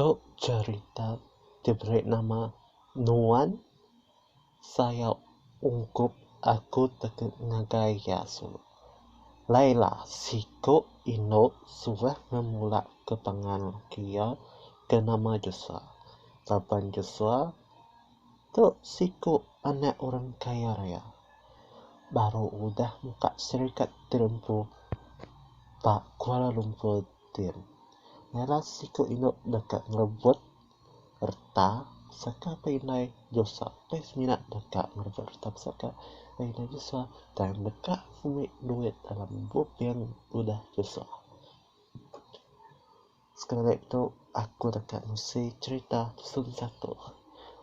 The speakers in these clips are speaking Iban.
Tu cherita diberi nama Nuan sayau ungkup aku teka ngagai Yesu. Laila, siku indu suah ngemulaka pangan laki iya ke nama Joshua. Raban Joshua tu siku anak orang kaya raya. Baru udah muka serikat terempu ba Kuala Lumpur. Tin. Ngaran siku indu deka ngerebut reta saka pia indai Josua. Pia semina deka ngerebut reta pesaka pia indai Josua tang deka ngumit duit dalam buping udah Josua. Sekeda tu aku deka ngisi cherita lesson satu.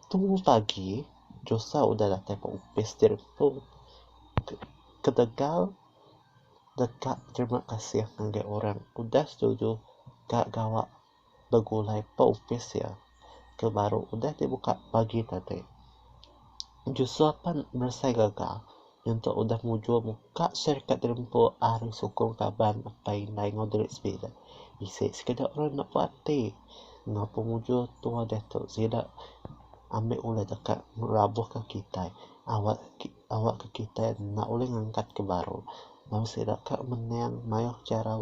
Tumu pagi, Josua udah datai ba opis ti rimpung. Ketegal. deka terima kasih ngagai orang udah setuju ka gawa begulai ba opis iya ke baru udah dibuka pagi tadi. Jusoh pan beresai gaga nyentuk udah mujur muka syarikat dinempu ari sukung kaban apai indai enggau diri sebida. Bisi sekeda orang enda puas ati enggau pemujur tuoh diatu sida ambi ulih deka ngelabuhka kitai awakka. Awakka kitai enda ulih ngangkat ke baru lalu sida ka mening mayuh chara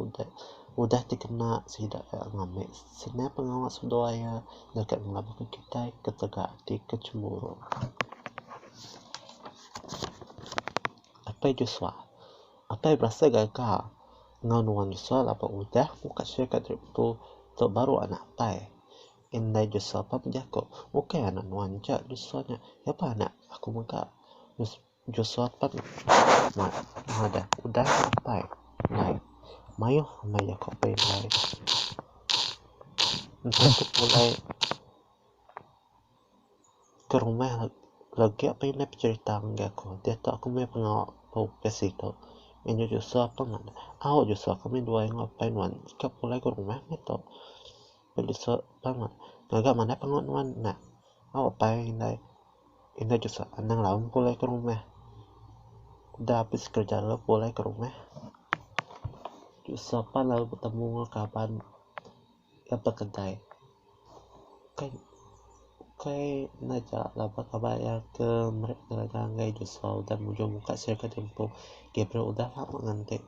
udah dikena sida ka ngambi seniap pengawa seduai iya deka ngelabuhka kitai ketegal ati ke chemburu. Apai Joshua Apai berasa gaga enggau nuan Joshua laban udah muka sirkut ritu tu baru anak apai. Indai Joshua pan bejako, Ukai anak nuan aja Joshua nya, iya pun anak aku mega. Joshua pan madah, Udah nya apai, indai. Mayuh meh jako aku indai. Enti aku pulai ke rumah legi pan indai pecherita ngagai aku. Diatu aku meh pengawa bau besi tu. Ngin nya Joshua pan madah, Au Joshua kami dua ingat apai nuan ka pulai ke rumah meh tu. Bedesak pang ngaga manah pengawa nuan nya. Au apai indai indai desak anang raun pulai ke rumah. Udah abis kerja lalu pulai ke rumah. Desak pan lalu betemu enggau kaban ke ba kedai. Ukai ukai enda aja laban kaban iya ke meret ngaga enggai desak udah mujung muka sirih ke tempo Gabriel udah lama nganti.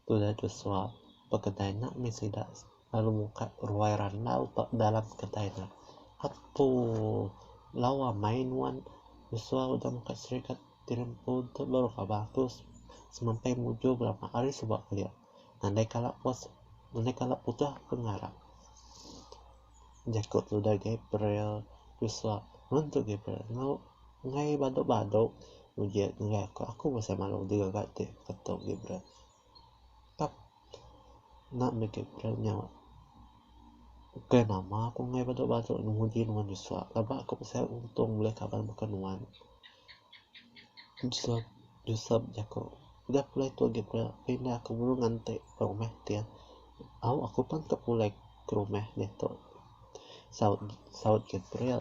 Tu udah desak ba kedai nya mih sida. lalu muka ruai randau ba dalam kedai ne. Apuh. Lawa amai nuan besuah udah muka serikat ti lempu tu baru ka bagus. Semampai mujur bala mak ari suba kelia. Ngandai kala pos ngandai kala udah ke ngarap. Jaku tudah Gabriel besuah. Nuan tu Gabriel enggau enggai badu-badu. Uji ngagai aku. Aku bisi malu digaga ti, ku tu Gabriel. Enda nitih ku ira nya ukai nama ku nengah badu badu ne nguji nuan bisa aba ku pasal untung buleh kaban baka nuan Joseph Joseph jaku udah pulai tu agi pira pindah ku burung ngante ba rumah ti au aku pan tau pulai ke rumah ditu saut saut Gabriel.